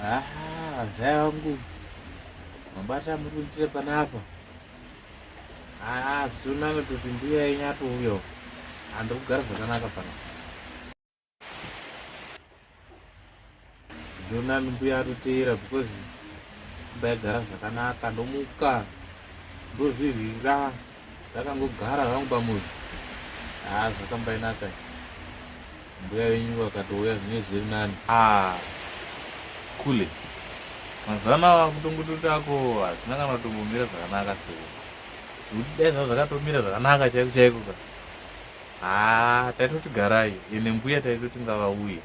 Ah, zai wangu mabata muri kuitira panapa ah, zvitonana toti mbuya yenyu atouya handiri kugara zvakanaka panapa ndonani mbuya atoteera because mbaigara zvakanaka ndomuka ndozvirwira ndakangogara hangu pamuzi haa ah, zvakambainaka mbuya venyu vakatouya zvinenge zviri nani ah, kule mazana kutongototi ako hazvina kana kutombomira zvakanaka seko zvekuti dai zva zvakatomira zvakanaka chaiko chaiko ka haa ah, taitoti garai ene mbuya taitoti ngavauye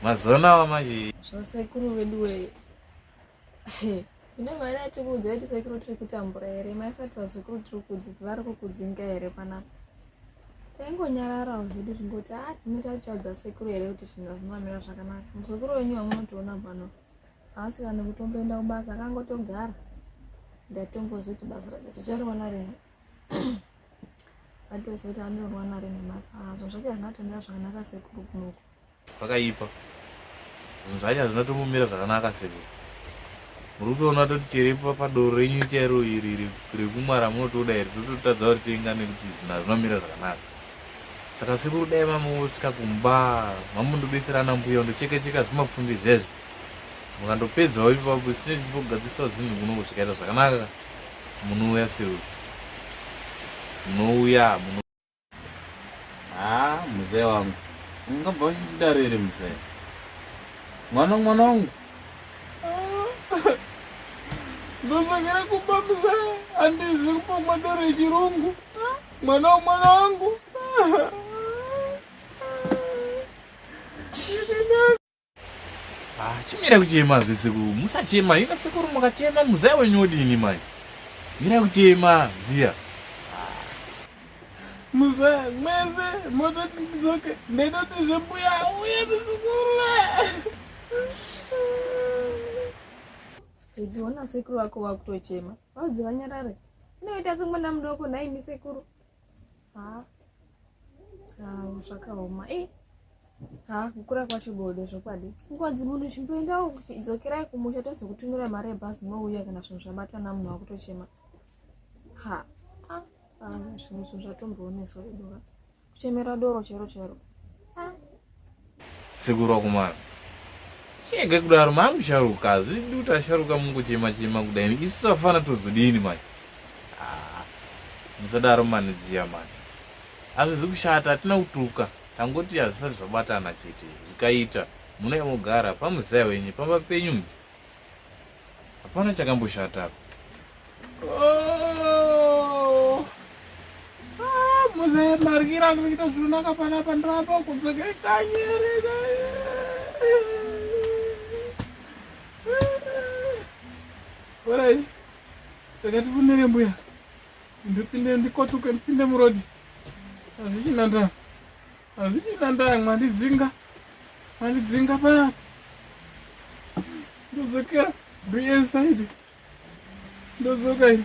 mazana ava manje zvasekuru veduwee ine mari yatikuudza kuti sekuru tiri kutambura here maisati vazukuru tiri kudzidzi vari kukudzinga here panapa taingonyararawo zvedu zvingoti a ah, tinoita tichaudza sekuru here kuti zvinhu hazvimamira zvakanaka muzukuru wenyu wamunotiona pano haasi kana kutomboenda kubasa akangotogara ndatombozoti basa racho tichariona rimwe vatozoti anoriona rimwe basa azvo zvacho angatomira zvakanaka sekuru kunoku Zvakaipa. Zvinhu zvacho hazvina tombomira zvakanaka sekuru. Muri kutoona toti chere padoro renyu chairo iri rekumwa ramunotoda iri tototadza ritenga nekuti zvinhu hazvina kumira zvakanaka. Saka sekuru dai mamosvika kumba mamundobetsera ana mbuya undocheka cheka zvimapfundi zvezvo. Mukandopedzawo ipapo sine zvimbogadziswa zvinhu kunoko zvikaita zvakanaka munouya sekuru. Munouya muno haa muzee wangu ungabva uchindidaro iri muzee mwana mwana wangu ndosakira kumba muzee handizi kupomwa doro yechirungu mwana wemwana wangu Ah, chimira kuchema zve sekuru musachema ino sekuru mukachema muzaya wenyu wodini mai mira kuchema dziya ah. muzaya mwese mototi ndidzoke ndaitoti zvembuya uye ndisekuru uchiona sekuru vako vakutochema vaudzi vanyarare inoita sekumwana mudoko nhaimi sekuru zvakaoma e ha kukura kwacho bodo zvokwadi mukwadzi munhu chimboendawo dzokerai kumusha tozokutumira mari yebhazi mouya kana zvinhu zvabatana munhu wakutochema ha zvinhu zvinhu zvatombooneswa veduva kuchemera doro chero chero Sekuru wakomana. Chega kudaro mamu sharuka hazvidi kuti asharuka mungochema chema kudai isu tafana tozodini manje. Ah, musadaro mani dziya mani. Hazvizi kushata hatina kutuka tangoti hazvisati zvabatana chete zvikaita muna yamogara pamuzaya wenyu pamba penyu mzi Hapana chakamboshata apa. Oh. Ah, muze margira kuita zvinonaka pana pandrapa kudzokera kanyere naye. Alright. Takati funere mbuya. Ndipinde ndikotuke ndipinde murodi. Azvichina ndaa. Hazvichina ndaa mwandidzinga. Mwandidzinga paya. Ndodzokera. Be inside. Ndodzoka iri.